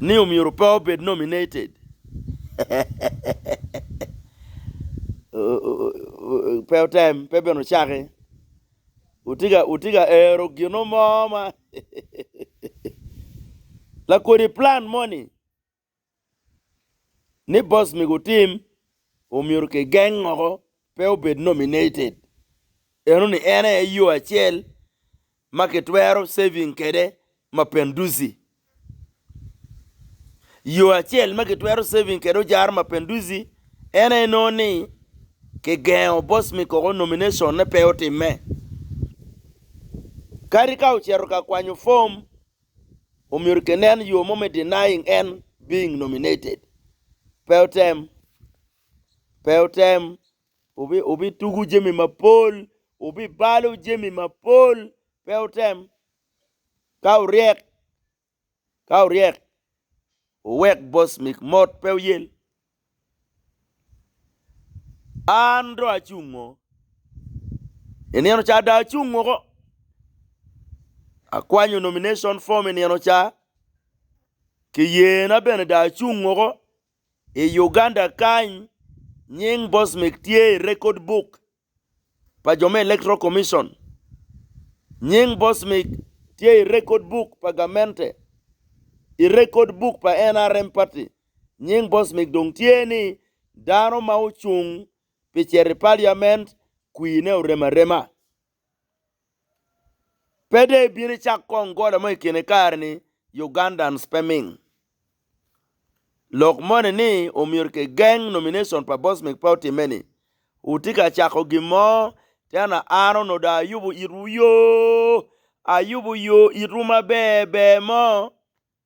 ni omyero pe obed nominated pe otem pe bene ocaki wutye ka ero gino mo ma lakodi plan moni. ni boss mego tim omyero ki geng woko pe obed nominated eno ni en aye yo acel ma ki twero saving kede Mapenduzi. Yo acel ma ki twero saving kede ojaro Mapenduzi en aye nongo ni ki gengo boss mikoko nomination ne pe otimme. Kadi ka oceto ka kwanyo form Omyero ki nen yo mo me denying en being nominated. Pe otem. Pe otem. Obi, obi tugu jemi mapol. Obi balo jemi mapol. Pe otem. Ka oryek, ka oryek, owek boss mic mot pe oyel. An dong acung ngo i nino ca dong acung woko akwanyo nomination form i nino ca kiyena bene dong acung woko i Uganda kany nying Bosmik tye i record book pa jo me Electoral Commission. Nying Bosmic tye i rekod buk pa gamente. I rekod buk pa NRM party, nying Bosmic dong tye ni dano ma ocung pi cito i paliament kwine orem arema. Pe dong ibino icak kong gola mo i kine kare-ni, Ugandans pe ming. Lok moni ni omyero kigeng nomination pa Bosmic pe otimme-ni? Wutye ka cako gin mo, Tena Aaron odong ayubo itwu yo, ayubo yo itwu maber ber mo.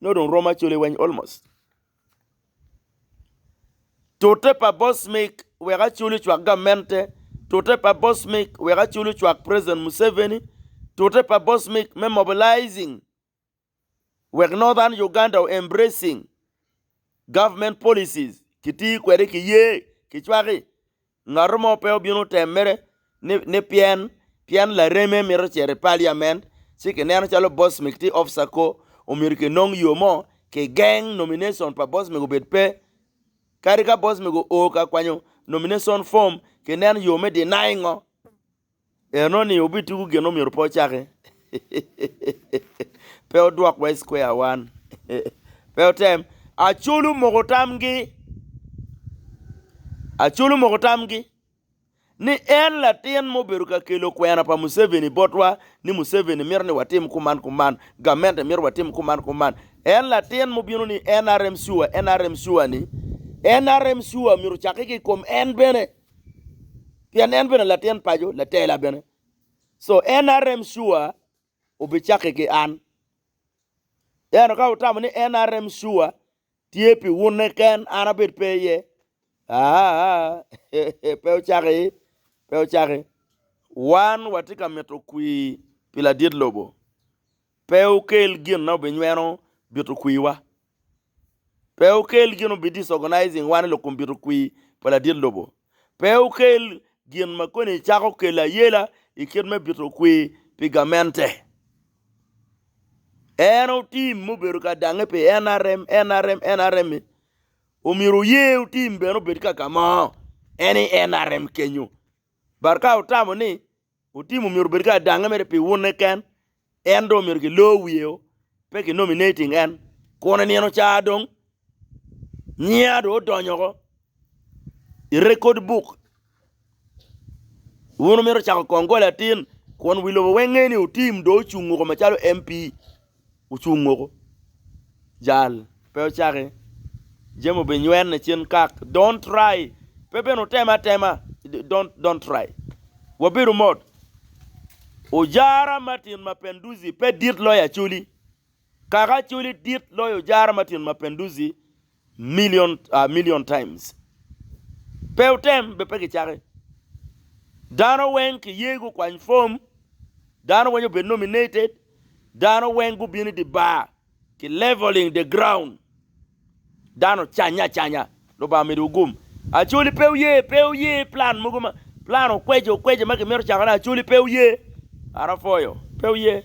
nongo dong romo acoli weng almost. Tute pa boss mic wek acoli ocwak gamente, tute pa boss mic wek acoli ocwak president Museveni, tute pa boss mic me mobilizing wek Northern Uganda o embracing government policies kitir kwede kiye kicwaki Ngat mo pe obino temere ni pien pien lareme mito cito i paliament ci kineno calo Bosmik tye officer ko omyero kinong yo mo kigeng nomination pa Bosmik obed pe. Kadi ka Bosmik oo ka kwanyo nomination form kinen yo me denying-o. Enoni obituku gin omyero pe ocaki, pe odwok wa i square wan, pe otem. Acol omoko tamgi, Acol omoko tamgi ni en latin ma obedo ka kelo kwena pa Museveni botwa ni Museveni mito ni watim kuman kuman, gamente mito watim kuman kuman. En latin ma obino ni nrm sure, nrm sure ni nrm sure myero ocaki ki i kom en bene. Pien en bene latin paco, latela bene. So en NRM sure obicaki ki an. Eno ka wutamo ni NRM sure tye pi wune ken an abed pe iye. Ah, pe ocaki, pe ocaki. Wan watye ka mito kwir pi ladit lobo. Pe wukel gin ma wubinyweno bitokwiwa. Pe wukel gin ma wubi disorganizing wan i lok kom bitokwi pa ladit lobo. Pe wukel gin ma koni cako kelo ayela i kit me bitokwi pi gamente. En otim ma obedo ka dange pi nrm, nrm, nrm ni, omyero wuye otim bene obed kaka mo en i nrm kenyo. But ka wutamo ni Otim omyero obed ki adange mere pi wune ken, en dong omyero kilor wiye o, pe ki nominating en. Kun i nino ca dong nyinga dong odonyo oko i rekod buk. Wun wumito cako kongole atin, kun wi lobo weng ngeyo ni otim dong ocungo kome calo MP. ocung moko jal pe ocaki jami obi nywene cen kak don't try pe bene oteme atema don't don't try wabedo mot ojara Martin Mapinduzi pe dit loyo Acholi kaka Acholi dit loyo ojara Martin Mapinduzi million a million times pe otem be pe ki cake dano weng ki ye gu kwany form dano weny obed nominated dano weng gu bini di bar ki leveling the ground dano canya canya lubanga omido wu gum acoli pe oye pe oye plan mogo ma plan okweje okweje ma ki mito cakone acoli pe oye arafoyo pe oye.